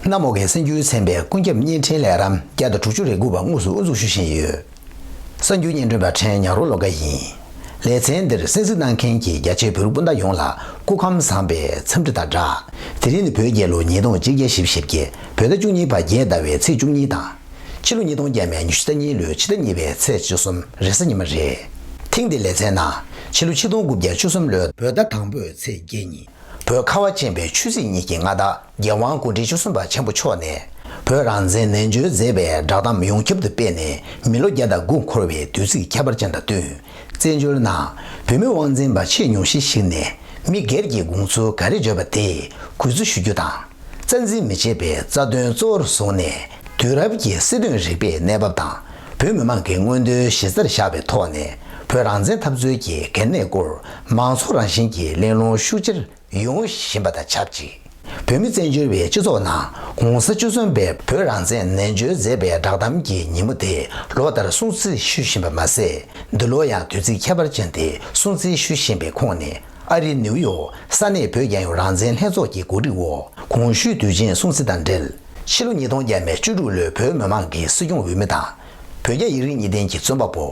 གནམ་འོག་གི་སེམས་རྒྱུད་ཚན་པས་ཀུན་ཁྱབ་བརྙན་འཕྲིན་ལས་རམ་བརྒྱ་དང་དྲུག་ཅུ་རེ་དགུ་པ་དངོས་སུ་དབུ་འཛུགས་ཞུ་བཞིན་ཡོད། གསར་འགྱུར་སྙན་སྒྲོན་པ་ཁྲེན་ཉག་རུ་ལོ་ཀ་ཡིན། ལེ་ཚན་འདིར་གསན་གཟིགས་གནང་མཁན་གྱི་རྒྱ་ཆེའི་བོད་རིགས་སྤུན་ཟླ་ཡོངས་ལ་སྐུ་ཁམས་བཟང་པའི་འཚམས་འདྲི་དང་སྦྲགས། དེ་རིང་ནི་བོད་རྒྱལ་ལོ་ཉིས་སྟོང་གཅིག་བརྒྱ་ཞེ་བཞི་བརྒྱད་བོད་ཟླ་བཅུ་གཉིས་པ་རྒྱལ་ཟླ་བའི་ཚེས་བཅུ་གཉིས་དང། ཕྱི་ལོ་ཉིས་སྟོང་བརྒྱད་མའི་ཉི་ཤུ་རྩ་གཉིས་ལོའི་ཕྱི་ཟླ་གཉིས་པའི་ཚེས་བཅུ་གསུམ་རེས་གཟའ་ཉི་མ་རེད། ཐེངས་འདིའི་ལེ་ཚན་ནང་ཕྱི་ལོ་ཆིག་སྟོང་དགུ་བརྒྱ་བཅུ་གསུམ་ལོའི་བོད་ཟླ་དང་པོའི་ཚེས་བརྒྱད་ཉིན། བོད་ཁ་བ་ཅན་པའི་ཆོས་སྲིད་གཉིས་ཀྱི་མངའ་བདག། རྒྱལ་དབང་དགུང་གྲི་བཅུ་གསུམ་པ་ཆེན་པོ་མཆོག་ནས་བོད་རང་བཙན་ནན་བརྗོད་མཛད་པའི་བསྒྲགས་གཏམ་ཡོངས་ཁྱབ་ཏུ་སྤེལ་ནས་མི་ལོ་བརྒྱ་དང་དགུ་འཁོར་བའི་དུས་ཚིགས་ཁྱད་པར་ཅན་དང་བསྟུན། བཙན་བྱོལ་ནང་བོད་མི་དབང་འཛིན་པ་ཆེས་ཉུང་ཤས་ཤིག་ནས་མི་སྒེར་གྱི་དགོངས་ཚུལ་ག་རེ་བརྗོད་པ་དེ་གུས་བརྩི་ཞུ་རྒྱུ་དང། རྩ་འཛིན་མི་བྱེད་པའི་རྩ་དོན་གཙོ་བོར་བཟུང་ནས་དུས་རབས་ཀྱི་སྲིད་དོན་རིག་པའི་གནས་བབ་དང་བོད་མི་མང་གི་མངོན་འདོད་གཞི་རྩར་བཞག་པའི་ཐོག་ནས་བོད་རང་བཙན་འཐབ་རྩོད་ཀྱི་གལ་གནད་སྐོར་མང་ཚོགས་རང་བཞིན་གྱི་གླེང་སློང་ཤུགས་ཆེར་ཡོང་བཞིན་པ་དང་ཆབས་ཅིག་བོད་མི་བཙན་བྱོལ་བའི་སྤྱི་ཚོགས་ནང་གོང་ས་བཅུ་གསུམ་པས་བོད་རང་བཙན་ནན་བརྗོད་མཛད་པའི་བསྒྲགས་གཏམ་གྱི་ཉིན་མོ་དེ་ལོ་ལྟར་སྲུང་བརྩི་ཞུ་བཞིན་པ་མ་ཟད་འདི་ལོ་ཡང་དུས་ཚིགས་ཁྱད་པར་ཅན་དེ་སྲུང་བརྩི་ཞུ་བཞིན་པའི་ཁོངས་ནས་ཨ་རིའི་ནིའུ་ཡོག་ས་གནས་བོད་རྒྱ་ཡོངས་རང་བཙན་ལྷན་ཚོགས་ཀྱི་གོ་སྒྲིག་འོག་གོང་ཞུས་དུས་ཆེན་སྲུང་བརྩི་དང་འབྲེལ་ཕྱི་ལོ་ཉིས་སྟོང་བརྒྱད་མའི་བཅུ་དྲུག་ལོའི་བོད་མི་མང་གི་སྲིད་སྐྱོང་འོས་མི་དང། བོད་རྒྱ་ཡིག་རིགས་གཉིས་ལྡན་གྱི་རྩོམ་པ་པོ།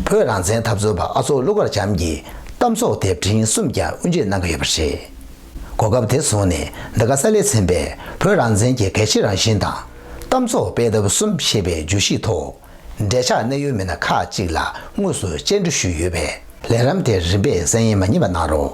བོད་རང་བཙན་འཐབ་རྩོད་པ་ཨ་ཚོགས་ཀླུ་མཁར་བྱམས་ཀྱི་གཏམ་ཚོགས་དེབ་ཕྲེང་གསུམ་ཀྱང་དབུ་འབྱེད་གནང་གི་ཡོད་པ་རེད། གོ་སྐབས་དེ་བཟུང་ནས་འདི་ག་ས་ལེ་ཚན་པས་བོད་རང་བཙན་གྱི་གལ་ཆེའི་རང་བཞིན་དང། གཏམ་ཚོགས་སྤེལ་ཐབས་གསུམ་ཞེས་པའི་བརྗོད་གཞིའི་ཐོག། འབྲེལ་ཆགས་གནད་ཡོད་མི་སྣ་ཁག་ཅིག་ལ་དངོས་སུ་སྤྱན་འབྲུ་ཞུས་ཡོད་པས་ལས་རམ་དེ་རིམ་པས་གསན་ཡས་མ་རྙེད་པ་གནང་རོགས།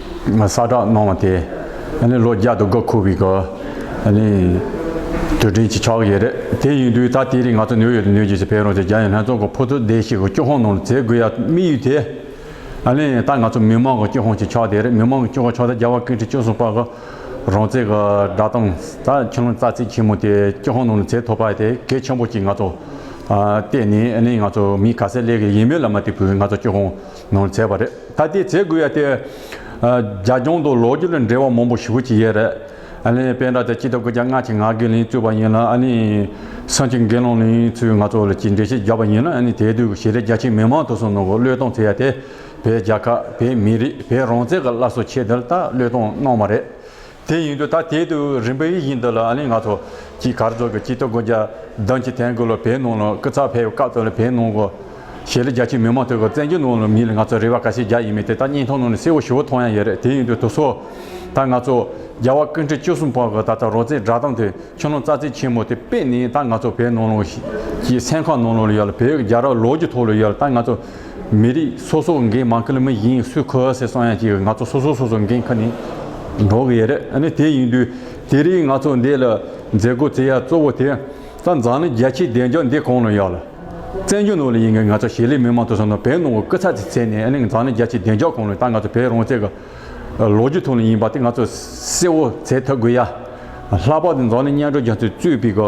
ས་བསྒྲགས་གནང་བ་དེ་ནི་ལོ་བརྒྱ་དུ་དགའ་ཁུ་བའི་དུས་དྲན་གྱི་ཕྱག་ཡིག་རེད། དེ་ཡིན་དུས་ད་ལྟའི་རིང་ང་ཚོ་ནིའུ་ཡོག་ཏུ་ནུས་རྒྱུ་ཞིག་འཕེལ་རུང་ཆེ་རྒྱ་ཡི་ལྷན་ཚོགས་ཀྱི་ཕོ་ཚོད་བདེ་ཞིག་གི་སྐྱོ་ཧོང་ནང་ལ་འཛེག་དགོས་ཡ་དམིགས་ཡུལ་དེ་ནི་ད་ང་ཚོ་མི་དམངས་ཀྱི་སྐྱོ་ཧོང་གི་ཕྱག་དེ་རེད་མི་དམངས་ཀྱི་སྐྱོ་ཧོང་ཕྱག་དེ་རྒྱལ་བ་སྐུ་ཕྲེང་བཅུ་གསུམ་པ་གི་རང་བཙན་གྱི་བསྒྲགས་གཏམ་ད་ཁྱོད་རང་རྩ་ཚིག་ཆེན་མོ་དེ་སྐྱོ་ཧོང་ནང་ལ་འཛེག་ཐུབ་པ་དེ་གལ་ཆེན་པོ་གཅིག་ང་ཚོ་བལྟས་ནས་ནི་ང་ཚོ་མི་ག་ས་ལས་ཀྱི་ཡིན་མོད་ལ་མ་དེ་བུས་ང་ཚོ་སྐྱོ་ཧོང། ནོར་མཛད་པ་རེད་ད་དེ་བྱེད་དགོས་ཡ་དེ། རྒྱ་གྱོང་དང་ལོ་རྒྱུས་ལ་འབྲེལ་བ་མང་པོ་ཞུ་གི་ཡོད་རེད། དཔེ་འདྲ་དེ་སྤྱི་ལྟ་གུ་རྒྱ་སྔ་ཕྱི་ང་དགེ་ལེན་གཙོས་པ་ཡིན་ལ། སངས་ཆེན་དགེ་སློང་ལེན་ཚུལ་ང་ཚོ་ལ་ཅིག་འགྲེལ་བཤད་རྒྱབ་པ་ཡིན་ལ་དེའི་དུས་ཀྱི་ཞེས་རེད་རྒྱ་ཆེ་མི་མང་དུ་སོང་ནང་གི་བློས་གཏོང་ཚེ་ཡ་དེ་བས་རྒྱ་ཁ་བས་མི་རིགས་བས་རང་བཙན་གི་བླ་སྲོག་ཆེད་དེ་ལྟ་བློས་གཏོང་གནང་བ་རེད། དེ་ཡིན་དུས་ད་དེའི་དུས་རིམ་པའི་ཡིག་རྙིང་འདི་ལ་ཨ་ལིང་ང་ཚོ་གིས་གར་སོགས་ཀྱི་སྤྱི་ཚོགས་སྒོ་རྒྱ་བསྡམས་ཀྱིས་ཐན་གོ་ལ་བས་ནང་ལ་སྐུ་ཚགས་ཕེབས་སྐབས་དེ་ལ་བས་ནང་གོ་ཞེས་ལ་རྒྱ་ཆེའི་མི་མང་ཐོས་སྐབས་བཙན་གྱིས་ནང་ལ་མིའི་ལ་ང་ཚོ་རེ་བ་ག་ཤེད་རྒྱ་ཡིན་མིན་དེ་ད་སྙིང་ཐང་ནང་ལ་གསལ་བོ་ཞུ་བོ་མཐོང་ཡང་ཡོད་རེད་དེ་ཡིན་དུས་དུ་སོ་ད་ང་ཚོ་རྒྱ་བ་ཀུན་ཁྲི་བཅུ་གསུམ་པོ་གིས་ད་ལྟ་རོ་ཙའི་སྒྲ་གདངས་དེ་ཆུ་ནང་རྩ་རྩེ་ཆེན་མོ་དེ་པས་ནི་ད་ང་ཚོ་བས་ནང་ལ་ཞེས་སེམས་ཁམས་ནང་ལ་ཡོད་ལ་བས་རྒྱ་ར་ལོག་རྒྱུ་ཐོག་ལ་ཡོད་ལ་ད་ང་ཚོ་མི་རིགས་སོ་སོ་འགན་མང་ཁེལ་མི་ཡིན་སུས་ཁུ་ཨ་སེ་སོང་ཡང་ཅིག་ང་ཚོ་སོ་སོ་སོ་སོ་འགན་ཁ་ནས་འགྲོ་གི་ཡ་རེད་ཨ་ནི་དེ་ཡིན་དུས་དེ་རིང་ང་ཚོ་འདས་ལ་མཛད་སྒོ་བརྩི་ཡ་གཙོ་བོ་དེ་ད་འཛམ་གླིང་རྒྱ་ཆེའི་བདེ་འཇགས་འདི་གང་ལ་ཡོད་ལ་བཙན་བྱོལ་ནང་ལ་ཡིན་གི་ང་ཚོ་ཞེ་ལི་མི་མང་དུ་སོང་ན་བལ་ནང་གི་སྐུ་ཚ་ཚེ་ཚད་ནས་ཨ་ནི་འཛམ་གླིང་རྒྱ་ཆེའི་བདེ་འཇགས་གང་ལ་ཡོད་ད་ང་ཚོ་བལ་རང་བཙན་གི་ལོ་རྒྱུས་ཐོག་ནས་ཡིན་པ་དེ་ང་ཚོ་གསལ་བོ་བྱེད་ཐུབ་དགོས་ཡ་ལྷག་པར་དུ་འཛམ་གླིང་སྙན་གྲགས་རྒྱ་མཚོས་གཙོས་པའི་གི་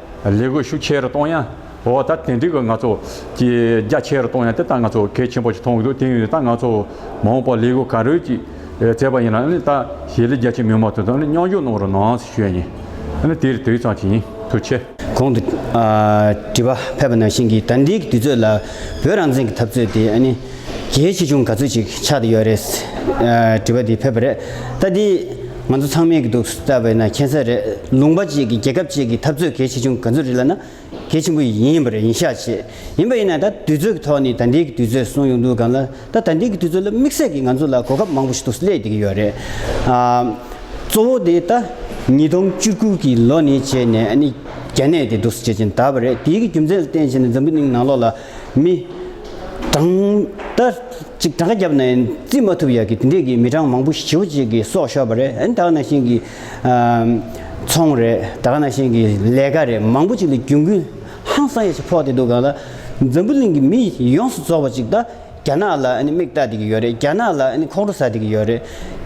ལས་སྒོ་ཤུགས་ཆེ་རུ་གཏོང་ཡ། འོ་ད་དེ་འགྲིག་གི་ང་ཚོ། ཀྱི་རྒྱ་ཆེ་རུ་གཏོང་ཡ་དེ་ད་ང་ཚོ་གལ་ཆེན་པོ་ཞིག་མཐོང་གི་འདུག་དེ་ཡིན་ད་ང་ཚོ་མང་པོ་ལས་སྒོ་ག་རེ་ཅིག་བཙལ་བ་ཡིན་ན་ད་ཞེ་ལི་རྒྱ་ཆེ་མི་མང་དེ་ཚོ་མཉམ་འཇོག་གནང་རུ་ནང་ཞུ་ཡ་ཡིན། དེ་རི་དེ་རི་ཚང་ཅིག་ཡིན་དུ་ཆེ། གོང་དུ། དྲི་བ་ཕེབས་པ་ནང་བཞིན་གྱི་ད་འདིའི་དུས་ཚོད་ལ་བོད་རང་བཙན་གྱི་འཐབ་རྩོད་དེ་ཨ་ནི། གལ་ཆེ་ཆུང་ག་ཚོད་ཅིག་ཆགས་དེ་ཡོད་རེད། དྲི་བ་དེ་ཕེབས་པ་རེད། ད་དེ། ང་ཚོ་ཚང་མས་གི་འདུག་ས་བས་ན་མཁྱེན་ས་རེད་ལུང་པ་བཅས་ཀྱི་རྒྱལ་ཁབ་བཅས་ཀྱི་འཐབ་རྩོད་གལ་ཆེ་ཆུང་ག་ཚོད་རེད་ལ་ན་གལ་ཆེན་པོ་ཡིན་ཡིན་པ་རེད་ཡིན་ཤག་བྱས་ཡིན་པ་ཡིན་ན་ད་དུས་ཚོད་ཀྱི་ཐོག་ནས་ད་ལྟའི་གི་དུས་ཚོད་སོང་ཡོང་འདུག་གམ་ལ་ད་ད་ལྟའི་གི་དུས་ཚོད་ལ་དམིགས་བསལ་གྱི་ང་ཚོ་ལ་གོ་སྐབས་མང་པོ་ཞིག་འདུག་སླད་དེ་གི་ཡོད་རེད་ཨ། གཙོ་བོ་དེ་ད་ཉིས་སྟོང་བཅུ་དགུ་གི་ལོ་ནས་བྱས་ནས་ཨ་ནི་རྒྱ་ནད་དེ་འདུག་ས་བྱས་ཅན་ད་བ་རེད་དེའི་གི་རྒྱུ་མཚན་ལ་བརྟེན་བྱས་ནས་འཛམ་བུ་གླིང་ནང་ལོགས་ལ་མི། གྲངས། ད། ཅིག་གྲངས་ཀ་བརྒྱབ་ནས་བརྩི་མ་ཐུབ་ཡག་གི་དེ་འདྲས་ཀྱི་མི་གྲངས་མང་པོ་ཞིག་བྱིའུ་གཅིག་གི་སྲོག་ཤོར་བ་རེད་ད་ག་ན་ཤིང་གི། ཚོང་རེད་ད་ག་ན་ཤིང་གི་ལས་ཀ་རེད་མང་པོ་ཅིག་ལ་རྒྱུན་ཀུན། ཧང་སང་ཡ་ཆ་ཕོག་བསྡད་འདུག་ག་ལ། འཛམ་བུ་གླིང་གི་མི་ཡོངས་སུ་རྫོགས་པ་ཅིག་ད་རྒྱ་ནག་ལ་མིག་བལྟ་བསྡད་ཀྱི་ཡོད་རེད་རྒྱ་ནག་ལ་ཁོག་འགྲོ་ཟ་བསྡད་ཀྱི་ཡོད་རེད།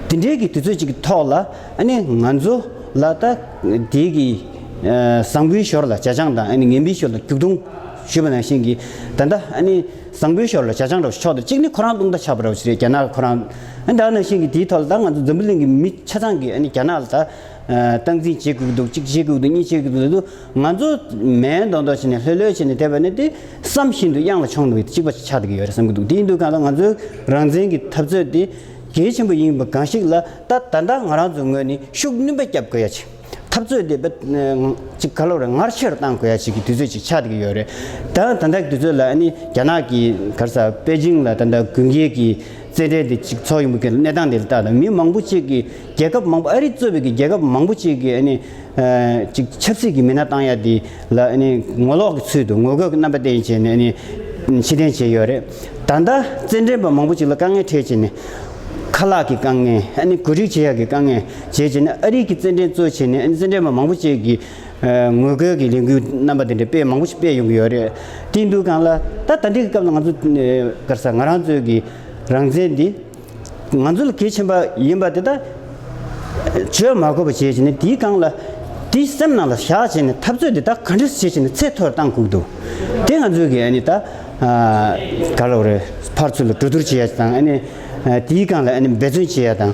དེ་འདྲས་ཀྱི་དུས་ཚོད་ཅིག་གི་ཐོག་ལ། ང་ཚོ། ལ་ད། དེའི་གི། བཟང་པོའི་ཞོར་ལ་བྱ་སྤྱང་དང་ངན་པའི་ཞོར་ལ་སྒྱུག་རྡུང། ཞུས་པ་ན་ཤིང་གིས། ད་ལྟ། བཟང་པོའི་ཞོར་ལ་བྱ་ཆང་འགྲོ་ཞིག་ཆོག་དང་གཅིག་ནི་ཁོ་རང་ལྟུང་བརྡ་ཆགས་པར་རོ་ཞིག་རེད་རྒྱ་ནག་ལ་ཁོ་རང། འདྲ་ན་ཤིང་གིས་དེའི་ཐོག་ལ་ད་ང་ཚོ་འཛམ་བུ་གླིང་གི་མི་ཆ་ཚང་གིས་རྒྱ་ནག་ལ་ད། སྟངས་འཛིན་བྱེད་དགོས་ཀྱི་འདུག་གཅིག་བྱེད་དགོས་ཀྱི་འདུག་གཉིས་བྱེད་དགོས་ཀྱི་འདུག་ང་ཚོ། མའི་མདོག་མདོག་བྱས་ནས་ལྷོད་ལྷོད་བྱས་ནས་བསྡད་པ་ནི་དེ་བསམ་བཞིན་དུ་གཡང་ལ་མཆོངས་འདུག་གཅིག་པ་ཆགས་བསྡད་ཀྱི་ཡོད་རེད་བསམ་གྱི་འདུག་དེའི་འདུག་ག་ལ་ང་ཚོའི་རང་བཙན་གྱི་འཐབ་རྩོད་དེ། གལ་ཆེན་པོ་ཡིན་པ་གང་ཞིག་ལ་ད་ད་ལྟ་ང་རང་ཚོའི་ངོས་ནས་ཤུགས་སྣོན་པ་བརྒྱབ་དགོས་ཡ་ཆེ། འཐབ་རྩོད་དེ་གཅིག་ཁ་ལོ་རེ་ངར་ཆེ་རུ་གཏང་དགོས་ཡ་ཞིག་གི་དུས་ཚོད་ཅིག་ཆགས་ཀྱི་ཡོད་རེད་ད། ད་ལྟའི་དུས་ཚོད་ལ་ནི་རྒྱ་ནག་གི་གར་ས་པེ་ཅིང་ལ་ད་ལྟ་དགུན་རྒྱལ་གྱི་རྩེད་འགྲན་དེ་གཅིག་འཚོགས་ཡིན་པ་གི་གནས་སྟངས་དེ་ལ་བལྟ་ད་མི་མང་པོ་གཅིག་གི་རྒྱལ་ཁབ་མང་པོ་ཨ་རི་གཙོས་པའི་གི་རྒྱལ་ཁབ་མང་པོ་གཅིག་གི་ནི་གཅིག་ཆབ་སྲིད་ཀྱི་མི་སྣ་བཏང་ཡ་དེ་ལ་ནི་ངོ་ལོག་གི་ཚུལ་དུ་ངོ་རྒོལ་གྱི་རྣམ་པ་བསྟན་བྱས་ནས་ནི་ཕྱི་འཐེན་བྱས་ཡོད་རེད། ད་ལྟ་རྩེད་འགྲན་པ་མང་པོ་གཅིག་ལ་དཀའ་ངལ་འཕྲད་བྱེད་ནི། ཁ་ལག་གི་དཀའ་ངལ་ཨ་ནི་གོ་སྒྲིག་བྱེད་ཡ་གི་དཀའ་ངལ། བྱས་རྗེས་ནས་ཨ་རིག་གི་རྩེད་འགྲན་གཙོ་བྱས་ནས་རྩེད་འགྲན་པ་མང་པོ་བཅས་ཀྱིས་ངོས་སྐལ་གྱི་ལས་འགུལ་རྣམ་པ་དེ་འདྲ་སྤེལ་མང་པོ་ཞིག་སྤེལ་ཡོང་གི་ཡོད་རེད། དེ་འདུག་གང་ལ། ད་ད་འདི་གི་སྐབས་ལ་ང་ཚོ་དཀར་ས་ང་རང་ཚོའི་གི་རང་བཙན་འདི་ང་ཚོ་ལ་གལ་ཆེན་པ་ཡིན་པ་དེ་དག་བྱོས་མ་དགོས་པ་བྱས་རྗེས་ནས་དེའི་གང་ལ། དེ་སེམས་ནང་ལ་བཞག་བྱས་ནས་འཐབ་རྩོད་འདི་དག་ག་འདྲ་བྱས་བྱས་ནས་ཚད་མཐོ་རུ་བཏང་ཁུག་འདུག་དེ་ང་ཚོའི་གི་ཨནི་ད་ག་ལ་འོ་རེད་ཕར་ཚུར་ལ་གྲོས་བསྡུར་བྱས་ཡ་དང་ཨནི་དེའི་གང་ལ་ཨནི་འབད་བརྩོན་བྱས་ཡ་དང།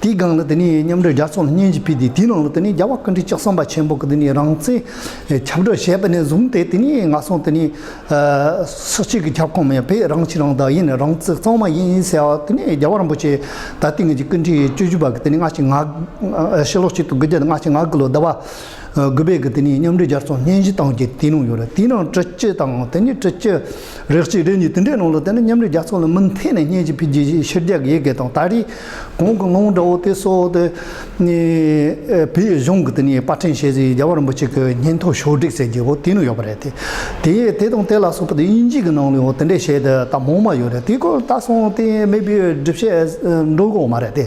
དེའི་སྒང་ལ་དེ་ནས་མཉམ་འབྲེལ་རྒྱལ་ཚོགས་ལ་སྙན་ཞུ་ཕུལ་ཏེ་དེའི་ནང་ལ་དེ་ནས་རྒྱལ་བ་བཀའ་དྲིན་ལྕགས་བསམ་པ་ཆེན་པོ་གི་དེ་ནས་རང་བཙན་ཁྱབ་བསྒྲགས་བྱས་པ་ནས་བཟུང་སྟེ་དེ་ནས་ང་སོང་དེ་ནས་སུ་གཅིག་གི་ཁྱབ་ཁོངས་མེད་པས་རང་གཅིག་རང་བདག་ཡིན་རང་བཙན་གཙང་མ་ཡིན་ཟེར་བ་དེ་ནས་རྒྱལ་བ་རིན་པོ་ཆེ་ད་ལྟའི་ངེད་ཀྱི་ཀུན་དཀྲིས་བཅུ་བཞི་པ་གི་དེ་ནས་སྔ་ཕྱི་ང་དགུ་ཕྱི་ལོ་གཅིག་དང་དགུ་བརྒྱ་དང་ང་ཕྱི་ང་དགུ་ལོ་ཟླ་བ། གུས་པས་གི་དེ་ནས་མཉམ་འབྲེལ་རྒྱལ་ཚོགས་སྙན་ཞུ་བཏང་རྒྱུ་དེ་ནང་ཡོད་རེད་དེའི་ནང་དྲི་སྤྱི་དང་དེ་ནས་དྲི་སྤྱི་རེག་སྤྱི་རེ་གཉིས་དེ་འདྲའི་ནང་ལ་དེ་ནི་མཉམ་འབྲེལ་རྒྱལ་ཚོགས་ལ་མུ་མཐེད་ནས་སྙན་ཞུ་ཕུལ་རྒྱུ་ཞིག་ཕྱིར་རྒྱལ་དགེ་རྒན་དང་ད་རེས་གོང་གི་ངང་འདྲ་བོ་དེ་སོག་དེ་ནས་བོད་གཞུང་གི་དེ་ནས་པར་འཕྲིན་ཤེས་ཟིན་རྒྱ་བར་འབུ་ཆེ་གི་སྙན་ཐོ་ཞོ་སྒྲིག་ཟེར་རྒྱུ་བོ་དེ་ནང་ཡོད་པ་རེད་དེ་དེ་དེ་དང་དེ་ལ་སོག་པོ་དེ་དབྱིན་ཇིའི་གི་ནང་ལའང་དེ་འདྲའི་བཤད་དེ་ད་མོང་མ་ཡོད་རེད་དེའི་སྐོར་ད་སོང་དེ་མེད་པའི་སྒྲིབ་བཤད་འགྲོ་གི་འོ་མ་རེད་དེ།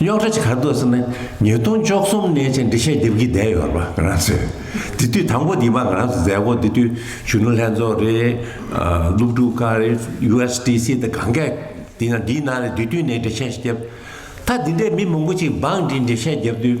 རྙོག་དྲ་ཇི་གར་འདུག་ཟེར་ན་ཉིས་སྟོང་བཅོ་གསུམ་ནས་ཅེས་འགྲེལ་བཤད་རྒྱབ་ཀྱི་བསྡད་ཡོད་རེད་པ་ང་རང་ཚོས། དེ་དུས་དང་པོ་འདི་པ་ང་རང་ཚོ་མཛད་སྒོ་འདི་དུས་གཞོན་ནུ་ལྷན་ཚོགས་རེད། སློབ་ཕྲུག་ཁག་རེད USDC དང་གང་སྐད་དེ་ཡང་འདིའི་ནང་ལས་དུས་དུས་ནས་འགྲེལ་བཤད་བརྒྱབ། ད་འདི་འདྲའི་མི་མང་པོ་ཅིག་འབངས་འདིས་འགྲེལ་བཤད་བརྒྱབ་དུས།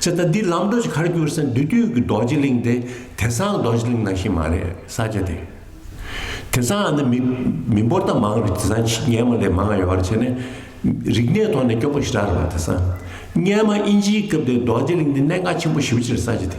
ཅེས་དང་འདི་ལམ་འགྲོ་ཞིག་གར་གྱུར་ས་འདི་དུས་ཀྱི་རྡོ་རྗེ་གླིང་དེ་དེ་སང་རྡོ་རྗེ་གླིང་ནང་ཞིག་མ་རེད་ས་ཆ་དེ། དེ་སང་ཨ་ནི་མི་འབོར་ད་མང་རེད་དེ་སང་ཆི་རྙལ་མ་ལས་མང་ཡོད་རེད་བྱས་ནས་རིག་གནས་ཐོག་ནས་སྐྱོ་པོ་ཞིག་རག་རེད་བ་དེ་སང་རྙལ་མ་དབྱིན་ཇིའི་སྐབས་དེ་རྡོ་རྗེ་གླིང་ནི་གནད་འགག་ཆེན་པོ་ཞིག་རེད་ས་ཆ་དེ།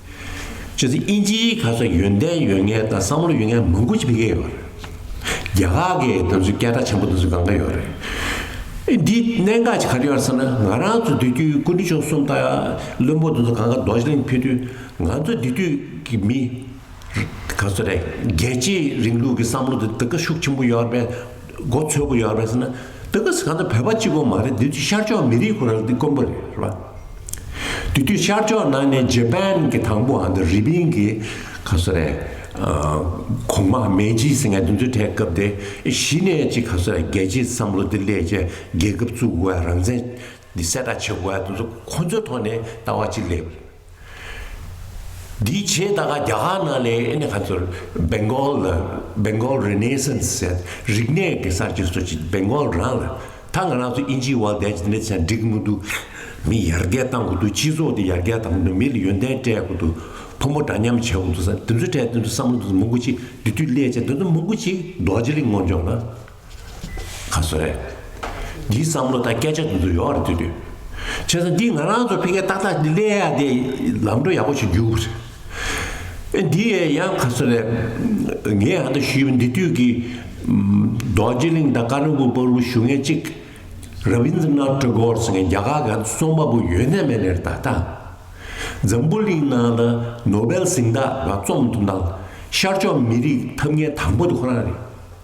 ཅེས་ཚིག་དབྱིན་ཇིའི་ཁ་ཚོན་ཡོན་ཏན་ཡོད་ངེས་དང་བསམ་བློ་ཡོད་ངེས་མང་པོ་ཞིག་བེད་སྐྱེལ་ཡོད་པ་རེད། རྒྱ་གར་གྱི་དེ་ཚོའི་སྐད་བརྡ་ཆེན་པོ་དེ་ཚོ་གང་འདྲ་ཡོད་རེད། འདིའི་གནད་འགག་ཅིག་ག་རེ་ཡོད་རེད་ཟེར་ན་ང་རང་ཚོ་འདི་དུས་ཀུན་གྲོལ་མཆོག་གསུམ་དང་བློན་པོ་དེ་ཚོ་གང་ག་རྡོ་རྗེ་གླིང་ཕེབས་དུས་ང་ཚོ་འདི་དུས་ཀྱི་མི་ག་ཚོད་རེད་རྒྱལ་གཅེས་རིང་ལུགས་ཀྱི་བསམ་བློ་དེ་དེ་ག་ཤུགས་ཆེན་པོ་ཡོད་པའི་མགོ་འཚོས་དགོས་ཡོད་རེད་ཟེར་ན་འདི་ག་ཟེར་གང་ཐད་བོད་པ་གཅིག་པོ་མ་རེད་འདི་དུས་ཤར་ཕྱོགས་མི་རིགས་ཁོ་རང་འདི་དཀོན་པོ་རེད་རེད་པ། དེ་དུས་ཤར་ཕྱོགས་ནང་ནས་ཇེ་པན་གྱི་དང་པོ་འདི་རི་པིན་གྱི་ག་ས་རེད་གོང་མ་མེ་ཇི་སི་ངས་འདི་ཚོའི་གྲས་སྐབས་དེ་གཞི་ནས་ཅིག་ག་ས་རེད་རྒྱལ་སྤྱིའི་བསམ་བློ་འདི་སླེས་རྗེས་རྒྱལ་ཁབ་བཙུགས་དགོས་ཡ་རང་བཙན་འདི་གསལ་བསྒྲགས་བྱེད་དགོས་ཡ་འདི་ཚོ་ཁོ་ཚོའི་ཐོག་ནས་ལྟ་བ་གཅིག་སླེས་པ་རེད། འདིའི་རྗེས་ད་ག་རྒྱ་གར་ནང་ནས་ཨེ་ནས་ག་ཚོད Bengal ལ Bengal Renaissance ཟེར་རིག་གནས་ཀྱི་གསར་བརྗེ་སོགས་ཀྱི Bengal རང་ལ་ད་ང་རང་ཚོ་ཨིན་ཇིའི་དབང་ལྡན་གྱི་འདི་འདྲ་བྱས་ན་འགྲིག་མི་འདུག་མི་ཡར་རྒྱས་གཏང་དགོས་འདུག་སྤྱི་ཚོགས་འདི་ཡར་རྒྱས་གཏང་དགོས་འདུག་མི་ལ་ཡོན་ཏན་སྤྲད་དགོས་འདུག་ཕོ་མོ་འདྲ་མཉམ་བྱེད་དགོས་འདུག་ས་འདི་ཚོ་སྤྲད་དེ་འདུག་བསམ་བློ་འདི་ཚོ་མང་པོ་ཅིག་འདི་དུས་སླད་ཆད་འདི་ཚོ་མང་པོ་ཅིག་རྡོ་རྗེ་གླིང་སྔོན་ལྗོངས་ན། ཁ་སོ་རེད། འདིའི་བསམ་བློ་དང་སྐད་ཆ་འདི་ཚོ་ཡོག་རེད་འདོད་དུས། བྱས་ཙང་འདི་ང་རང་ཚོ་ཕལ་སྐད་ཏག་ཏག་འདི་གླེང་ཡག་དེ་ལམ་འགྲོ་ཡག་པོ་ཞིག་འཇུག་རེད། ཨེ་འདི་ཡེ་ཡང་ཁ་སོ་རེད། ངས་ཡང་དུ་ཞུས་པ་འདི་དུས་ཀྱི། རྡོ་རྗེ་གླིང་དང་ཀ་རིང་པོ་པར་བུ་ཞུ་མཁན་གཅིག། Rabindranath Tagore ཟེར་མཁན་རྒྱ་གར་ག་རྩོམ་པ་པོ་ཡོད་ནས་མེད་ནས་རེད་ད་ལྟ། འཛམ་བུ་གླིང་ནང་ལ Nobel གཟེངས་རྟགས་ག་རྩོམ་ཐུབ་ན། ཤར་ཕྱོགས་མི་རིགས་ཐབས་ངན་དང་པོ་དེ་ཁོ་རང་རེད།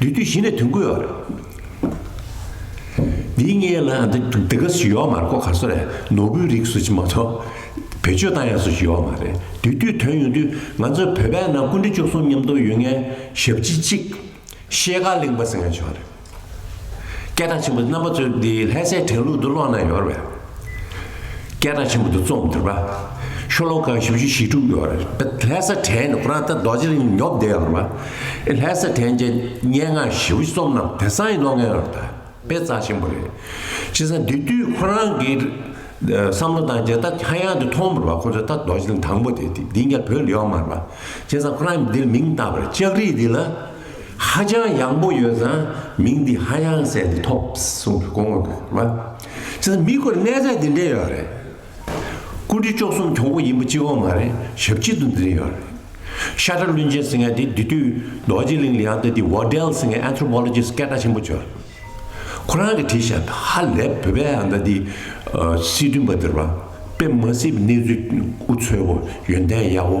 འདུས་དུས་གཞི་ནས་དོན་ཀུན་ཡོད། འདི་ངའི་ལ་འདི་འདི་ག་སུ་ཡོད་མ་རེད་ཀོ་གར་སོ་རེད་ནོར་བུའི་རིགས་སུ་ཅི་མ་ཚོ་བེད་སྤྱོད་བཏང་ཡག་སུ་ཅི་ཡོད་མ་རེད་འདུས་དུས་དོན་ཡོང་དུས་ང་ཚོ་བོད་པའི་ནང་ཀུན་དགྲེ་བཅུ་གསུམ་མཉམ་དུ་ཡོད་ངའི་ཞབས་ཕྱི་གཅིག་ཤེལ་དཀར་གླིང་པ་ཟེར་མཁན་བྱུང་བ་རེད། སྐད་གྲགས་ཆེན་པོ་རྣམ་པ་ཚོས་འདི་ལྷས་སའི་དྲན་ལུགས་འདི་ཀློག་ན་ཡོར་བས། སྐད་གྲགས་ཆེན་པོ་འདི་རྩོམ་དུས་པ། ཤོ་ལོ་ཀ་བཞི་བཅུ་ཞེ་དྲུག་ཡོད་རེད། ལྷས་ས་དྲན་ནི་ཁོ་རང་ད་རྡོ་རྗེ་རིང་ཉོབ་བསྡད་ཡོད་རེད་པ། ལྷས་ས་དྲན་གྱི་སྙན་ངག་བཞི་བཅུ་རྩོམ་རྣམས་དེ་སང་ཡི་ལོ་ལྔའི་རབ་དང་དཔེ་རྩ་ཆེན་པོ་རེད། བྱས་ཙང་དེ་དུས་ཁོ་རང་གི་བསམ་བློ་དང་རྒྱལ་ཐབས་ཧ་ཡང་དུ་མཐོང་མི་རུང་བ་ཁོ་ཚོས་ད་རྡོ་རྗེ་རིང་དང་པོ་དེ་དེ་འདི་འགའ་བོད་ལ་ཡོད་མ་རེད་པ། བྱས་ཙང་ཁོ་རང་གིས་འདིར་མིང་བཏགས་པར་ལྕགས་རི་འདི་ལ་ཧ་ཅང་ཡག་པོ་ཡོད་ཙང་མིང་འདི་ཧ་ཡང་ཟེར་འདི་ཐོབ་གསུངས་པའི་དཀོན་དངོས་རེད་པ། ཟེར་མི་དགོས་གནས་ཚད་འདི་འདྲས་ཡོད་རེད། ཀུན་གྲི་ལྕོག་གསུམ་གྱོང་པོ་ཡིན་པ་གཅིག་འོང་མ་རེད་ཞབས་སྐྱིད་དུ་འཛིན་ཡོད་རེད། ཤ་ཁྲ་བླུན་ཅན་ཟེར་མཁན་དེ་དེ་དུས་རྡོ་རྗེ་གླིང་ལ་ཡང་ལྟ་དུས་བྷོ་དལ་ཟེར་མཁན Anthropologist སྐད་གྲགས་ཆེན་པོ་བྱོས་རེད། ཁོ་རང་གི་བྲིས་བྱས་ཧ་ལས་བོད་པའི་ཨ་མདའ་འདི་སྲིད་དོན་པ་འདིར་བ་དཔེ་མ་སྲིད་པའི་གནས་ཚུལ་དབུ་འཚོལ་བོ་ཡོན་ཏན་གཡར་བོ།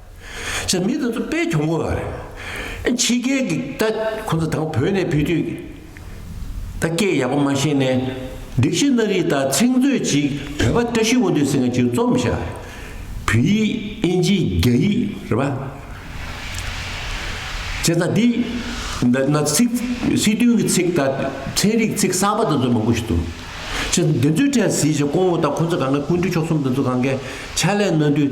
ཟེར་མི་དེ་ཚོ་དཔེ་གྱོང་གོ་བ་རེད། ཕྱི་རྒྱལ་གྱི་ད་ཁོ་ཚོ་དང་བོད་ནས་ཕེབས་དུས་ད་སྐད་ཡག་པོ་མ་ཤེས་ནས་སྒྲིག་གཞི་སྣ་རིགས་དང་ཚིག་མཛོད་ཅིག་བོད་པ་བཀྲ་ཤིས་དབོན་སྡོད་ཟེར་མཁན་ཅིག་རྩོམ་བཞག་རེད། བོད་ཡིག་དབྱིན་ཇི་རྒྱ་ཡིག་རེད་པ། བྱས་ཙང་འདི་འདི་ན་ཚིག་སྲིད་དོན་གྱི་ཚིག་དང་ཚན་རིག་ཚིག་གསར་པ་དེ་ཚོ་མང་པོ་ཞིག་འདུག་བྱས་ཙང་འདི་ཚོའི་གྲས་གཟིགས་ཤིག་ཁོང་ད་ཁོ་ཚོ་གང་གཱའི་ཀུན་འདུས་མཆོག་གསུམ་དེ་ཚོ་གང་གཱའི་ཕྱག་ལས་གནང་དུས།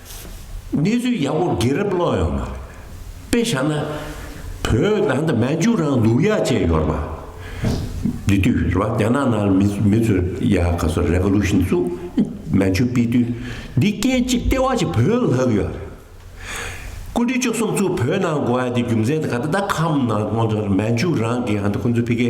གནས་ཚུལ་ཡག་པོ་དགེ་རབ་ཀློག་ཡོང་མ་རེད། དཔེ་བཞག་ན། བོད་ནང་དུ་མན་ཇུ་རང་ལུགས་ཡག་བཅས་ཡོར་མ། འདི་དུས་རེད་པ་རྒྱ་ནག་ནང་མི་མི་ཚོས་ཡ་ག་ཚོ Revolution བཙུགས། མན་ཇུ་སྤེལ་དུས་འདི་སྐད་གཅིག་ལྟེ་བ་གཅིག་བོད་ལྷག་ཡོད་རེད། སྐུ་དྲིན་བཅུ་གསུམ་ཚུ་བོད་ནང་གོ་ཨ་དེ་རྒྱུ་མཚན་དེ་ག་ད་ད་ཁམས་ནང་ཁོང་ཚོ་མན་ཇུ་རང་གི་ཧན་ད་ཁོང་ཚོ་ཕི་ཀའི་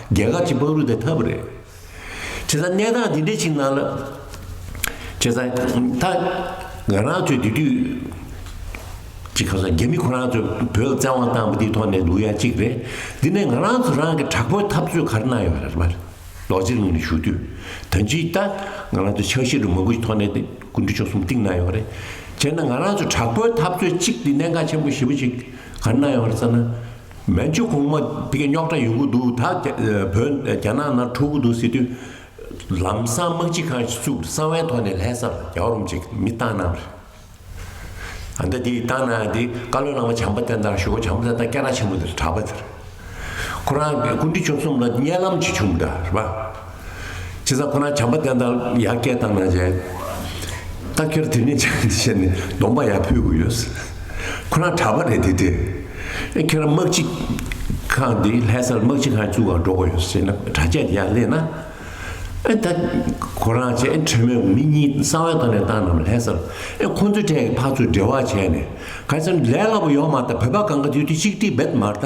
རྒྱལ་ཁབ་ཀྱི་དམག་རུ་དེ་འཐབ་རེད། བྱས་ཙང་གནས་སྟངས་འདི་འདྲའི་ཆིག་ནང་ལ། བྱས་ཙང་ད་ང་རང་ཚོས་དེ་དུས། ཅིག་ཁ་སང་རྒྱ་མི་ཁོ་རང་ཚོས་བོད་ལ་བཙན་དབང་བཏང་པ་དེའི་ཐོག་ནས་ལུགས་ཡག་ཅིག་རེད། འདི་ནས་ང་རང་ཚོ་རང་གི་དྲག་པོའི་འཐབ་རྩོད་ག་རེ་གནང་ཡོད་རེད་མ་རེད། རྡོ་རྗེ་གླིང་ནས་བཞུགས་དུས་ད་ཅིག་ད་ང་རང་ཚོ་ཆགས་ཤེས་རུ་མང་པོ་ཞིག་ཐོག་ནས་ཀུན་གྲོལ་ཆོག་གསུམ་གཏིང་གནང་ཡོད་རེད། བྱས་ན་ང་རང་ཚོ་དྲག་པོའི་འཐབ་རྩོད་ཅིག་གི་གནད་འགག་ཆེན་པོ་ཞེ་པོ་ཅིག་ག་རེ་གནང་ཡོད་རེད་བསམ་ན། མན་ཇུ་གོང་མ་དེ་ག་རྙོག་དྲ་ཡོང་གི་འདུག་ད་བོད་རྒྱ་ནག་ནང་འཁྲུག་གི་འདུག་ཟེར་དུས། ལམ་སང་དམག་སྤྱི་ཁང་ཞིག་བཙུགས་ཏེ་གསང་བའི་ཐོག་ནས་ལྷས་བསང་རྒྱ་རོམ་ཅིག་མི་བཏང་ན། ཨ་མདའ་དེ་བཏང་ན་དེ་བཀའ་བློན་བླ་མ་བྱམས་པ་བསྟན་དང་ཞོལ་གོ་བྱམས་བསྟན་དང་སྐྱ་ར་ཆེན་མོ་དེ་གྲྭ་པ་དེར། ཁོ་རང་སྐུ་འདྲི་བཅོམ་གསུམ་ལ་བརྙན་ལམ་གྱི་བྱུང་གདའ་རེད་པ། ཁྱེད་ཚང་ཁོ་ན་བྱམས་པ་བསྟན་དང་ཡར་སྐད་བཏང་ན་བྱས། ལྟ་ཁྱེར་དེ་ནས་བྱས་ནས་གདོང་པ་ཡར་ཕུད་དགོས་ཡོད། ཁོ་རང་གྲྭ་པ་རེད་དེ་དེ། ཨེ་ཁྱེད་རང་དམག་སྤྱི་ཁང་དེ་ལྷས་སར་དམག་སྤྱི་ཁང་བཙུགས་ཨང་འགྲོ་དགོས་ཡོད་ཟེར་ན་གྲྭ་བཅས་དེ་ཡར་སླེབས་ན། ཨེ་ད་ཁོ་རང་བྱས་ཨེ་ཁྲོན་མོ་མི་གཉིས་གསང་བའི་སྒང་ནས་བཏང་ནམ་ལྷས་སར་ཨེ་ཁོ་ཚོའི་གྲས་ཀྱི་ཕག་ཚོས་འབྲེལ་བ་བྱས་ནས་ག་ཚོད་ལས་སླ་པོ་ཡོང་མ་ཐག་བོད་པ་གང་ག་དུས་དུས་གཅིག་སྟིག་བེད་མར་ལྟ།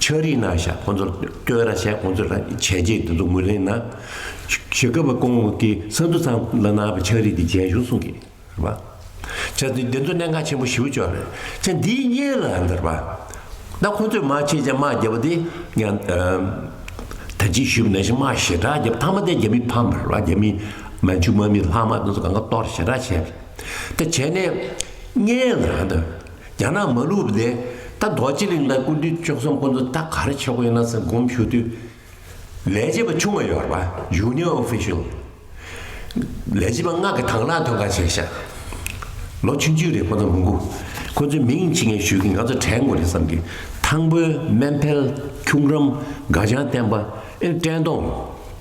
ཆགས་རིགས་ན་ཞག་ཁོང་ཚོར་སྐྱོན་ར་བྱས་ཁོང་ཚོས་ར་བྱས་རྗེས་འདི་ཚོ་ངོས་ལེན་ན། ཞེ་དགའ་བ་ཀོང་ཀི་སན་དུ་ཚང་ལ་ན་བའི་ཆགས་རིགས་འདི་རྒྱན་གཞུང་གསུང་གི། བ། ཆགས་རིགས་འདི་ཚོ་གནད་འགག་ཆེན་པོ་ཞིའུ་ཅོག་རེད་ཆ་འདིའི་གཉེན་ལ་འདིར་བ། ད་ཁོང་ཚོས་མ་ཆེ་ཆ་མ་རྒྱ་བ་དེ་ཡ། ད་ཅིག་ཞུས་པ་ན་ཞིག་མ་ཞེ་དྲག་རྒྱབ་ཐང་མ་དེ་རྒྱ་མི་ཕམ་པར་བ་རྒྱ་མི། མན་ཆུ་མ་མི་ལྷག་མ་དེ་ཚོ་གང་ག་གཏོར་ཞེ་དྲག་བྱས། ད་བྱས་ནས་གཉེན་ལ་འདིར། རྒྱ་ནག་མ་ལུས་པ་དེ་ད་རྡོ་རྗེ་གླིང་དང་ཀུན་འདུས་ཅོག་ཙམ་སྐོར་འདུག་ད་ག་རེ་ཆོག་གི་ཡོད་ན་ཟེར་སྒོམ་ཞུ་དུས། ལས་བྱེད་པ་ཆུང་བ་ཡོད་རེད་པ Junior Official། ལས་བྱེད་པ་སྔགས་ཀྱི་དྭངས་ལག་དོན་ག་བྱས་ཤག། ལོ་ཆུང་ཆུང་རེད་ཁོ་ཚོ་མི་འགུ། ཁོ་ཚོའི་མིང་ཅི་ངས་ཞུས་ཀི་ང་ཚོ་གྲལ་ངོ་རེད་བསམ་གི། ཐང་པོའི་སྨན་ཕལ། ཁྱུང་རམ། དགའ་བྱང་བསྟན་པ། ཨེ་བཀྲས་མཐོང།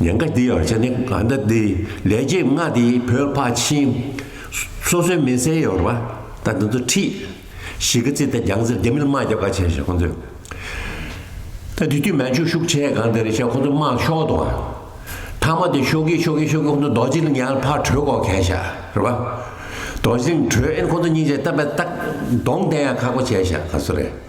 ཉེན་ཁ་འདི་ཡོང་བྱེད་ནི་ག་འདྲ་འདི་ལས་རྗེས་མངའ་འདི་བོད་ཕ་ཆིན། སོ་སོའི་མི་སེར་ཡོར་བ་ད་འདི་ཚོ་ཁྲིད། ཞི་གི་རྩིས་ད་རྒྱང་ཟེར་རྒྱ་མིར་དམག་རྒྱབ་ག་བྱེད་བྱེད་ཁོང་ཚོས། ད་དུས་དུས་མན་ཆུ་ཤུག་ཆེ་གང་འདི་རེད་བྱས་ཁོང་ཚོ་དམག་ཤོག་དུ། ཐ་མ་དེ་ཤོག་གི་ཤོག་གི་ཤོག་གི་ཁོང་ཚོ་རྡོ་རྗེ་ལིང་ཡང་ཕར་བྲོས་གོ་གས་བྱ་རེད་བ། རྡོ་རྗེ་ལིང་བྲོས་ཨེ་ཁོང་ཚོ་སྙིང་རྗེ་ལྟ་བས་ཏག་གདོང་བསྟན་ཡང་ཁག་པོ་བྱས་བྱ་ག་ཚོད་རེད།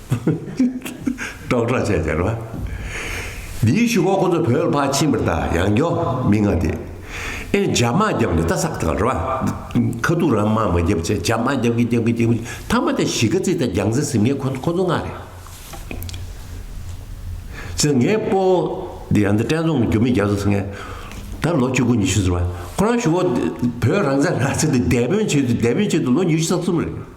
སྐྲག་སྐྲག་བྱས་བྱས་རོགས། འདིའི་ཞུ་སྒོ་ཁོ་ཚོ་བོད་ལ་ཕར་ཕྱིན་པར་ད་ཡང་མགྱོགས་མི་ང་དེ། ཨེ་རྒྱ་དམག་རྒྱབ་ནས་ད་སག་ད་རོགས། ཁ་ཐུག་རང་དམག་མ་རྒྱབ་ཚེ་རྒྱ་དམག་རྒྱབ་གི་རྒྱབ་གི་རྒྱབ་གི་ཐ་མ་ད་གཞིས་ཀ་རྩེ་ད་རྒྱང་རྩེ་ཟིམ་ངས་ཁོ་ཁོ་ཚོ་མངགས་རེད། ཟེར་ངས་པོ་འདི་ཡང་ད་བཀྲས་མཛོང་གི་རྒྱུ་མི་རྒྱ་བཟོ་ཟེར་ངས། ད་ལོ་གཅིག་དགུ་ཉི་ཤུ་ཟེར་བ་ཁོ་རང་ཞུ་སྒོ་བོད་རང་བཙན་རག་ཚེ་ད་རྒྱ་དཔོན་བྱེད་དུ་རྒྱ་དཔོན་བྱེད་དུ་ལོ་ཉི་ཤུ་ས་གསུམ་རེད།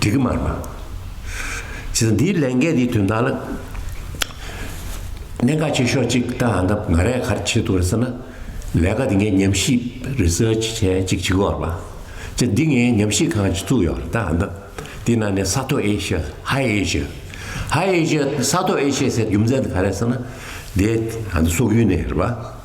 འགྲིག་གི་མར་མ། བྱས་ཙང་འདིའི་ལས་འགན་འདིའི་དོན་དག་ལ། གནད་འགག་ཆེ་ཤོས་གཅིག་ལྟ་ང་ང་རས་ག་རེ་བྱེད་འདུག་རེད་ཟེར་ན། ལས་ཀ་འདི་ངས་ཉམས་ཞིབ Research བྱས་གཅིག་བྱེད་དགོས་རེད་པ། བྱས་འདི་ངས་ཉམས་ཞིབ་ཁང་གཅིག་བཙུགས་ཡོད་རེད་ད་ཨ་འདི་ནང་ནས་ས་མཐོ Asia High Asia High Asia ས་མཐོ Asia ཟེར་རྒྱུ་མཚན་དེ་ག་རེད་ཟེར་ན། དེ་ཨ་འདི་སོག་ཡུལ་ནས་རེད་པ།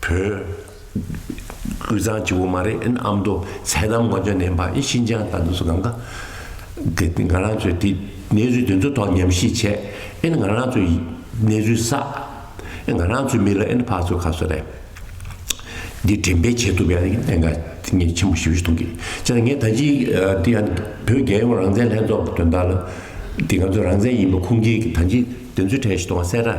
བོད། དབུས་གཙང་གཅིག་པོ་མ་རེད་ཨ་མདོ་ཚད་དམ་མགོ་འཇོག་ནན་པ་ཨི་ཤིན་ཅང་དང་དུ་སུ་གང་ག། དེ་ང་རང་ཚོས་དེ་གནས་ཚུལ་དེ་ཚོ་ཐོག་ཉམས་ཞིབ་བྱས་ཨན་ང་རང་ཚོས་གནས་ཚུལ་བསགས། ང་རང་ཚོའི་མི་ལ་ཨན་ཕག་ཚོ་ཁ་གསོ་རེད། འདི་དྲན་པས་བྱེད་ཐུབ་པའི་གནད་འགག་ངས་ཆེན་པོ་ཞིབ་བཤེར་གཏོང་གི་ཅེ་ན་ངས་ད་ཅི་འདི་ཡང་བོད་རྒྱལ་ཡོངས་རང་བཙན་ལྷན་ཚོགས་ཀྱི་དོན་དག་ལ། འདི་ང་ཚོ་རང་བཙན་ཡིན་པ་ཁུངས་སྐྱེལ་གྱི་ད་ཅི་དེ་ཚོའི་གྲས་ཤིག་གཏོང་བ་གསལ་ར།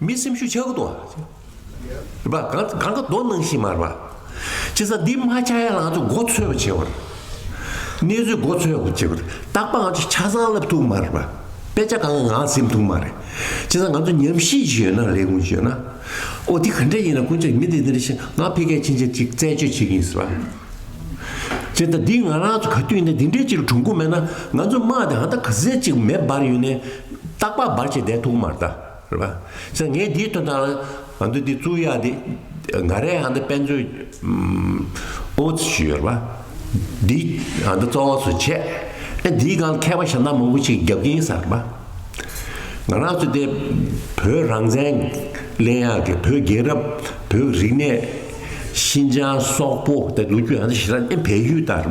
མི་སེམས་ཤུགས་ཆག་གི་དོ། རེད་པ། གང་གང་གི་དོ་སྣང་ཤིག་མ་རེད་པ། སྤྱིར་ས་འདི་མ་ཆག་ཡ་ལང་ཚོ་མགོ་འཚོས་པ་བྱེད་པར། གནས་ཚུལ་མགོ་འཚོས་པ་བྱེད་པར་རྟག་པ་ང་ཚོ་ཆ་ཚང་བསླབ་ཐུབ་མ་རེད་པ། དཔེ་ཆ་གང་གི་ངང་སེམས་ཐུབ་མ་རེད། སྤྱིར་ས་ང་ཚོ་ཉམས་ཞིག་ཞིག་ཡོད་ན་རེད་གུང་བྱོས་ན། ཨོ་དེ་ག་འདྲ་ཡིན་ན་ཀུན་བྱོས་མི་འདི་འདི་རེད་ཤེ་ང་ཕི་ཀའི་ཕྱིན་ཆད་ཅིག་རྩད་གཅོད་བྱེད་ཀྱི་ཡིན་ཟེར་བ། སྤྱིར་ད་འདི་ང་རང་ཚོ་ག་དུས་ཡིན་ན་འདི་འདྲའི་ཅིག་གྲུང་གུང་མེད་ན་ང་ཚོ་དམག་དེ་ཧ་ད་ག་ཟེ་ཅིག་མེ་འབར་ཡོད་ནས་རྟག་པ་འབར་བྱེད་བསྡད་ཐུག་མ་རེད་ད། རེད་པ། ས་ངས་འདིའི་དོན་དང། ཨ་འདི་འདི་བཙུགས་ཡག་འདི། འགའ་རེས་ཨ་འདི་དཔེ་མཛོད། ཨོཙི་ཞུས་ཡོད་རེད་པ། འདི་ཨ་འདི་གཙོ་བོ་སུ་བྱས། ཨེ་འདིའི་སྒང་མཁས་པ་ཞབས་ནག་མང་པོ་ཞིག་རྒྱབ་ཀྱིན་ཡིན་ས་རེད་པ། ང་རང་ཚོ་འདི་བོད་རང་བཙན། གླེང་ཡག་གི་བོད་རྒྱལ་རབས། བོད་ཀྱི་རིག་གནས། ཤིན་ཅང་སོག་པོ་ལུག་ཁྱུ་ཨ་འདི་ཞེ་ས་ཨེ་བལ་ཡུལ་དང་རེད་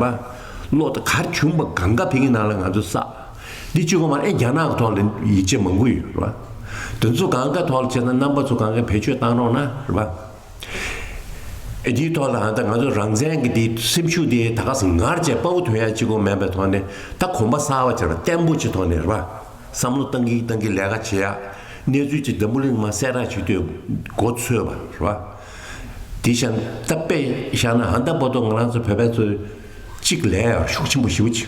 པ། ལོ་དེ་གར་བྱུང་པ་གང་དགའ་བལ་གྱི་ནང་ལ་ང་ཚོ་བསགས། འདི་བཅུ་གོང་མ་ཨེ་རྒྱ་ནག་གི་ཐོག་ལ་ཡིག་ཆ་མང་པོ་ཡོད་རེད་པཱ། དེ་ཚོ་གང་ག་ཐོག་ལ་བྱས་ན་རྣམ་པ་ཚོ་གང་ག་བེད་སྤྱོད་བཏང་རོགས་གནང་རེད་པཱ། ཨེ་འདིའི་ཐོག་ལ་ཧ་ད་ང་ཚོ་རང་བཙན་གྱི་འདི་སེམས་ཤུགས་འདི་ད་ག་ཟེ་ངར་བཅས་དཔའ་བོ་དོན་ཡག་གཅིག་གོ་མེད་པའི་ཐོག་ནས་ད་གོམ་པ་སྲ་བ་བྱས་པ་བརྟན་པོ་ཆེ་ཐོག་ནས་རེད་པཱ། བསམ་བློ་གཏང་གིན་གཏང་གིན་ལས་ཀ་བྱེད་ཡག་གནས་ཚུལ་ཅིག་འཛམ་བུ་གླིང་མ་གསལ་རག་བྱེད་དུས་གོ་ཚོད་པ་རེད་པཱ། དེ་ཤ་སྟག་པས་བཞག་ན་ཧ་ད་པོ་ཏོ་ང་རང་ཚོ་བོད་པའི་ཚོ་གཅིག་ལས་ཡག་ཤུགས་ཆེན་པོ་ཞུ་གི།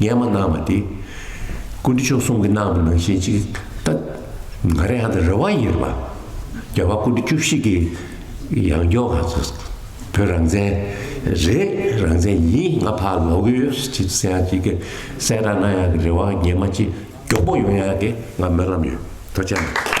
ངས་མ་གནང་བ་དེ། ཀུན་གྲི་མཆོག་གསུམ་གྱི་གནང་བའི་ནང་བཞིན་ཅིག་ལྟ། ང་རེ་ཧ་ད་རེ་བ་ཡིན་རེད་པ། རྒྱལ་བ་ཀུན་གྲི་བཅུ་བཞི་གི་ཡང་སྐྱོང་ང་ཚོ་བོད་རང་བཙན་རེད་རང་བཙན་ཡིན་ང་ཕར་ལོག་གི་ཡོད་ཅིག་གསལ་ཡང་ཅིག་གི་གསལ་བསྒྲགས་གནང་ཡག་གི་རེ་བ་རྒྱལ་མ་ཅིག་མགྱོགས་པོ་ཡོང་ཡག་གི་ང་སྨོན་ལམ་ཡོད་ཐུགས་ཆེ་གནང།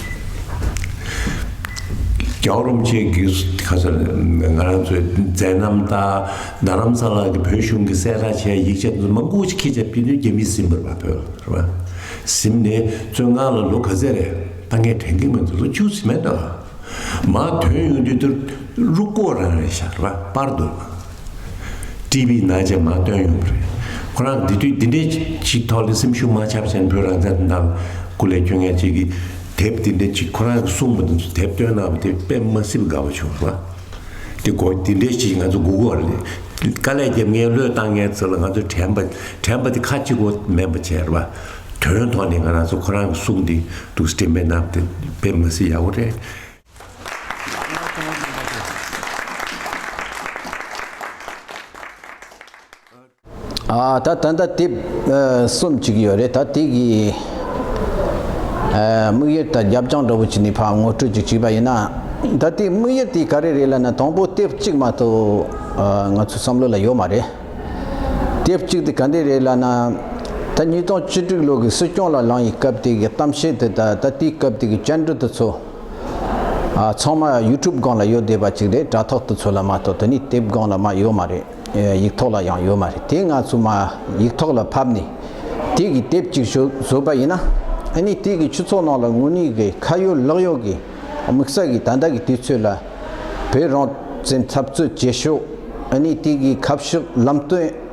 རྒྱའོ་རུང་བཅས་ཀྱིས་ཁ་སང་ང་རང་ཚོའི་མཛད་རྣམ་དང་རྡ་རམ་ས་ལ་གྱི་བོད་གཞུང་གི་གསལ་ཁ་བྱས་ཡིག་ཆ་དུ་མ་འགོ་ཁྱི་རྒྱ་བསྐྱེད་དོན་རྒྱ་མི་གཟིམ་པར་བ་ཕོད་རེད་བ། གཟིམ་ནས་བཙོན་ཁང་ལ་ལོ་ག་ཚད་རེད་ད་ངས་དྲན་གྱི་མི་འདུག་ལོ་བཅུ་ཟིན་མེད་ད། མ་དོན་ཡོང་དུས་དུ་རུ་སྐོར་རང་རེད་ཤག་རེད་བ་པར་འདུག། བཀྲིས་པའི་ན་རྗེས་མ་བཏོན་ཡོང་གི་རེད། ཁོ་རང་དེ་དུས་འདི་འདྲའི་ཅིག་ཐོག་ལ་སེམས་ཤུགས་མ་ཆག་བྱས་ན་བོད་རང་བཙན་དང་སྐུ་ལས་བསྐྱོན་མཁན་ཅིག་གིས་དེབ་འདི་འདྲའི་ཅིག་ཁོ་རང་གིས་གསུངས་པ་འདི་ཚོ་དེབ་བཏོན་གནང་བ་དེ་དཔེ་མ་སྲིད་དགའ་བོ་བྱུང་བ། དེ་དགོས་འདི་འདྲའི་ཅིག་ང་ཚོ་སྒུག་དགོས་རེད། དཀའ་ལས་རྒྱབ་མཁན་བློས་བཏང་མཁན་ཚོ་ལ་ང་ཚོ་དྲན་པ་དྲན་པ་དེ་ཁ་གཅིག་པོ་མེད་པ་བྱས་པ། དོན་ཐོག་ནས་ང་རང་ཚོ་ཁོ་རང་གིས་གསུངས་འདི་འདུག་སྤྲིངས་པའི་གནང་བ་དེ་དཔེ་མ་སྲིད་ཡག་པོ་རེད། ཨ་ད་ད་ད་དེབ་གསུམ་གཅིག་ཡོད་རེད་ད་དེ་གི་དམིགས་ཡུལ་ད་རྒྱབ་ལྗང་འདྲ་བོ་གཅིག་ནི་ཕར་ངོ་སྤྲོད་ཅིག་བྱས་པ་ཡིན་ན་ད་དེའི་དམིགས་ཡུལ་དེ་ག་རེ་རེད་ལ་ན་དང་པོ་དེབ་གཅིག་མ་གཏོགས་ང་ཚོའི་བསམ་བློ་ལ་ཡོད་མ་རེད་དེབ་གཅིག་དེ་ག་འདྲ་རེད་ལ་ན་ད་ཉིས་སྟོང་བཅུ་དྲུག་ལོ་གི་སྲིད་སྐྱོང་ལ་ལངས་ཡི་སྐབས་དེ་གི་གཏམ་བཤད་དེ་ད་ད་དེའི་སྐབས་དེ་གི་བཅར་འདྲི་དེ་ཚོ། ཚང་མ YouTube སྒང་ལ་ཡོད་བསྡད་པ་ཅིག་རེད་དྲ་ཐོག་ཏུ་ཚོད་ལ་མ་གཏོགས་དེ་ནི་དེབ་སྒང་ལ་མ་ཡོད་མ་རེད་ཡིག་ཐོག་ལ་ཡང་ཡོད་མ་རེད་དེ་ང་ཚོ་མ་ཡིག་ཐོག་ལ་ཕབ་ནས་དེ་གི་དེབ་ཅིག་བཟོས་པ་ཡིན་ན་ནི་དེ་གི་ཆུ་ཚོགས་ནང་ལ་དངོས་གནས་གི་ཁ་ཡོད་ལག་ཡོད་གི་དམིགས་བསལ་གི་ད་ལྟ་གི་དུས་ཚོད་ལ་བོད་རང་བཙན་འཐབ་རྩོད་བྱེད་ཕྱོགས་ནི་དེ་གི་ཁ་ཕྱོགས་ལམ་སྟོན།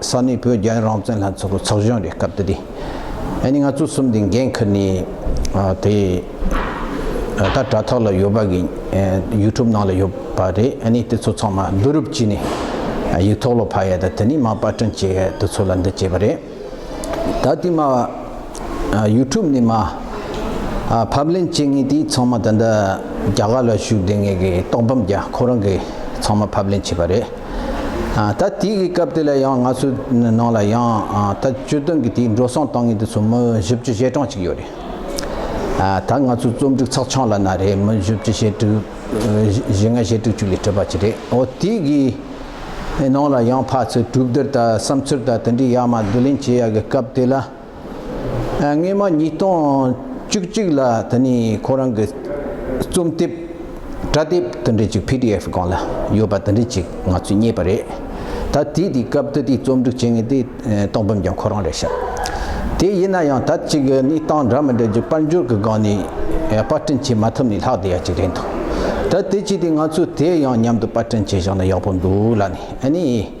ས་གནས་བོད་རྒྱ་རང་བཙན་ལྷན་ཚོགས་ཀྱི་ཚོགས་གཞོན་རེད་སྐབས་དེ་དུས་ཨ་ནི་ང་ཚོ་གསུམ་དེ་འགན་ཁུར་ནས་དེ་ད་དྲ་ཐོག་ལ་ཡོད་པ་གི་ཡུ་ཐུབ་ནང་ལ་ཡོད་པ་རེད་ཨ་ནི་དེ་ཚོ་ཚང་མ་བསྡུ་རུབ་བྱས་ནས་ཡིག་ཐོག་ལ་ཕབ་ཡ་ད་དེ་ནས་མ་པར་སྐྲུན་བྱས་ཡ་དེ་ཚོ་ལ་འདི་བྱས་པ་རེད་ད་དེ་མ་ཡུ་ཐུབ་ནས་མ་ཕབ་ལེན་བྱས་ངེས་དེ་ཚང་མ་ད་ལྟ་རྒྱ་གར་ལ་བཞུགས་དེ་ངེས་གི་རྟོག་འབམ་རྒྱ་ཁོ་རང་གི་ཚང་མ་ཕབ་ལེན་བྱས་པ་རེད། ད་དེ་གི་སྐབས་དེ་ལ་ཡང་ང་ཚོའི་ནང་ལ་ཡང་ད་བཅོལ་དོན་གི་དེའི་འགྲོ་སོང་གཏང་ངེས་དེ་ཚོ་མི་བཞི་བཅུ་ཞེ་གྲངས་ཅིག་ཡོད་རེད། ད་ང་ཚོའི་རྩོམ་སྒྲིག་ཚགས་ཆང་ལ་ན་རེ་མི་བཞི་བཅུ་ཞེ་དྲུག་བཞི་ལྔ་ཞེ་དྲུག་ཅུ་ལས་གྲུབ་པ་ཅིག་རེད་འོ་དེ་གི་ནང་ལ་ཡང་ཕ་ཚོས་གྲུབ་བསྡུར་དང་བསམ་ཚུལ་དང་དེ་འདྲའི་ཡག་མ་བསྡུ་ལེན་བྱེད་ཡག་གི་སྐབས་དེ་ལ། སྔོན་མ་ཉིས་སྟོང་བཅུ་གཅིག་ལ་ད་ནི་ཁོ་རང་གི་རྩོམ་དེབ་དྲ་དེབ་དེ་འདྲ་ཅིག PDF སྒང་ལ་ཡོད་པ་དེ་འདྲ་ཅིག་ང་ཚོས་རྙེད་པ་རེད། ད་དེ་དེའི་སྐབས་ད་ལྟའི་རྩོམ་སྒྲིག་བྱེད་མཁན་དེ་སྟོང་བུམ་ཀྱང་ཁོ་རང་རེད་ཤག་དེ་ཡིན་ན་ཡང་ད་ཅིག་ནི་སྟངས་འདྲ་མི་འདྲ་ཅིག་དཔལ་འབྱོར་གྱི་སྒང་ནས་དཔར་སྐྲུན་བྱེད་མ་ཐུབ་ནས་ལྷག་བསྡད་ཡ་ཅིག་རེད་འདུག་ད་དེ་ཅིག་དེ་ང་ཚོས་དེ་ཡང་མཉམ་དུ་དཔར་སྐྲུན་བྱེད་ཤག་ན་ཡག་པོ་འདུག་ལ་ནི་ཨ་ནི།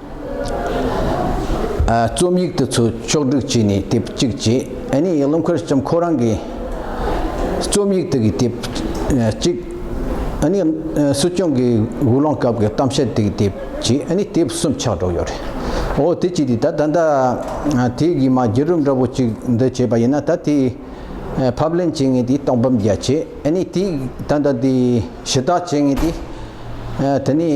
རྩོམ་ཡིག་དེ་ཚོ་ཕྱོགས་བསྒྲིགས་བྱས་ནས་དེབ་གཅིག་བྱས་ཨ་ནེ་ཡིག་ལམ་ཁུར་ལྕམ་ཁོ་རང་གིས་རྩོམ་ཡིག་དེ་གི་དེབ་གཅིག་ཨ་ནེ་སྲིད་སྐྱོང་གི་དབུ་ལོང་སྐབས་ཀྱི་གཏམ་བཤད་དེ་གི་དེབ་བྱས་ཨ་ནེ་དེབ་གསུམ་ཆགས་འགྲོ་ཡོད་རེད་འོ་དེ་བྱས་ཏེ་ད་ད་ལྟ་དེ་གི་མ་རྒྱལ་རུ་འདྲ་པོ་གཅིག་འདི་བྱས་པ་ཡིན་ན་ད་དེ་ཕབ་ལེན་བྱེད་ངེས་ཏེ་གཏོང་ཕམ་རྒྱ་ཆེ་ཨ་ནེ་དེ་ད་ད་དེ་ཞུ་དག་བྱེད་ངེས་ཏེ། དེ་ནི་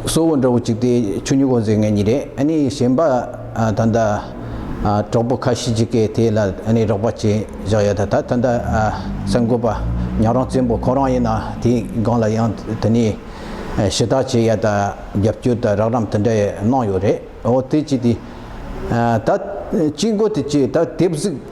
གསོ་བོ་འདྲ་བོ་གཅིག་དེ་ཆུ་མྱུག་གོ་འཛེག་མཁན་གཉིས་རེད་ཨ་ནི་གཞན་པ་ད་ལྟ་གྲོགས་པོ་ཁ་ཤི་གཅིག་གིས་དེ་ལ་ཨ་ནི་རོགས་པ་བྱས་བཞག་ཡོད་ད་ད་ལྟ་གསར་འགོད་པ་ཉག་རོང་བཙན་པོ་ཁོ་རང་ཡིན་ན་དེའི་སྒང་ལ་ཡང་དེ་ནི་ཞི་བདག་བྱས་ཡ་ད་རྒྱབ་སྐྱོར་ད་རགས་རམ་དེ་འདྲ་གནང་ཡོད་རེད་འོ་དེ་གཅིག་དེ་ད་གཅིག་འགོ་དེ་གཅིག་ད་དེབ་གཟིགས།